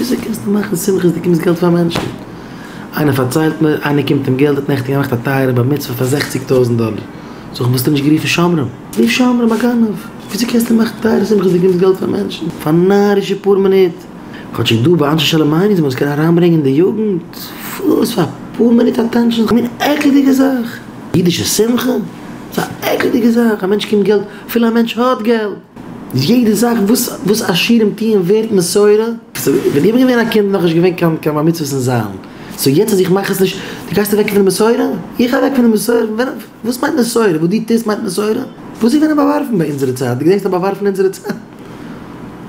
וויאזוי קענסטו מאכן שמחה אז דו געבסט געלט פאר מענטשן? איינער פארציילט מיר, איינער קומט אים געלט, האט נעכטן געמאכט א טייערע בר מצוה פאר זעכציג טויזנט דאלער, זאג איך וואלסטו נישט גערופן שומרים? רוף שומרים, א גנב! וויאזוי קענסטו מאכן א טייערע שמחה אז דו געבסט געלט פאר מענטשן? פאר נארישע פאר מינוט. כאטשיג דא ביי אנשי שלום מיינען זיי מ'זאל עס קענען אריינברענגען די יוגנט, וואס פאר פאר מינוט אטענשאן, א מין עקלדיגע זאך! אידישע שמחה? ס'איז א עקלדיגע זאך, א מענטש קומט געלט, אפילו א מענטש האט געלט! איז יעדע זאך וואס וואס עשירים טוען ווערט מסורה? סאו ווען איך בין געווען א קינד נאכנישט געווען קיין קיין בר מצוות און זיילן, סאו יעצט אז איך מאך עס נישט דו גייסט אוועק פון די מסורה? איך אוועק פון די מסורה? ווען וואס מיינט מסורה? וואס דו טוסט מיינט מסורה? וואס איז געווען א באווארפן ביי אונזערע צייט? דו געדענקסט א באווארפן אונזערע צייט?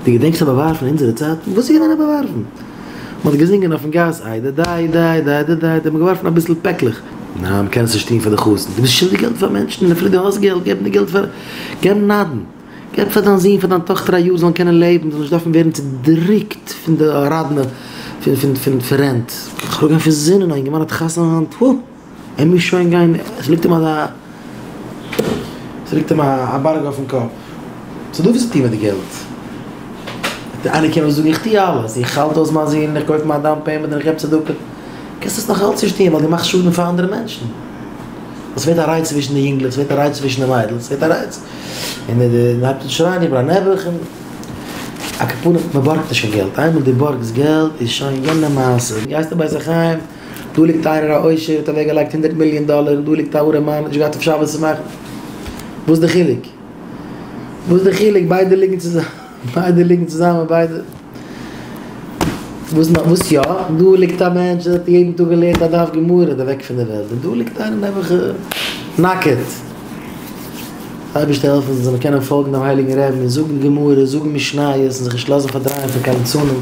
דו געדענקסט א באווארפן אונזערע צייט? וואס איז געווען א באווארפן? מען האט געזינגען אויפן גאס איי דע דיי דיי דיי דע דיי דע מען האט געווארפן אביסל פעקלעך. ניין מען קען עס נישט טון פאר די חתן. דו ביסט שולדיג געלט פאר מענטשן און אפילו דו האסט געלט געב נישט געלט פאר. געבן נדן, געב פאר דיין זון פאר דיין טאכטער א יאר זאלן קענען לעבן זאלן נישט דארפן ווערן צודריקט פון די ראדנע פון רענט, איך האב געווען פון זינען א אינגערמאן האט חתונה היינט הא ער מוז שוין גיין עס ליגט אים אזא עס ליגט אים א בארג אויפן קאפ סא דו וועסט טון מיט די געלט וועט איינער קומען זאגן איך טו אלעס איך האלט אויס מיין זון איך קויף מיין דאון פעימענט און איך געב צדקה קענסט עס נאך אלץ נישט טון ווייל דו מאכסט שאדן פאר אנדערע מענטשן. עס ווערט א רייץ צווישן די יונגלעך, עס ווערט א רייץ צווישן די מיידלעך, עס ווערט א רייץ, און מען הייבט אן שרייען איבער א נעבעך, און א קאפארע, מען בארגט נישט קיין געלט, איינמאל דו בארגסט געלט איז שוין יענע מעשה, גייסט אין בית החיים, דא ליגט איינער א עושר האט אוועק געלייגט הונדערט מיליאן דאלער, און דא ליגט א ארעמאן, נישט געהאט אויף שבת צו מאכן, וואס די חילוק? וואס די חילוק? ביידע ליגן צוזאמען. ביידע ליגן צוזאמען ביידע. וואס נאך? וואס יא? דא ליגט א מענטש וואס האט יעדן טאג געלערנט א דף גמרא איז אוועק פון די וועלט, און דא ליגט איינער נעבעך נאקעט. אייבערשטער העלף אונז זאלן קענען פאלגן דעם הייליגן רעבן און זאגן גמרא, זאגן משניות און זיך נישט לאזן פארדרייען פון קיין ליצנים.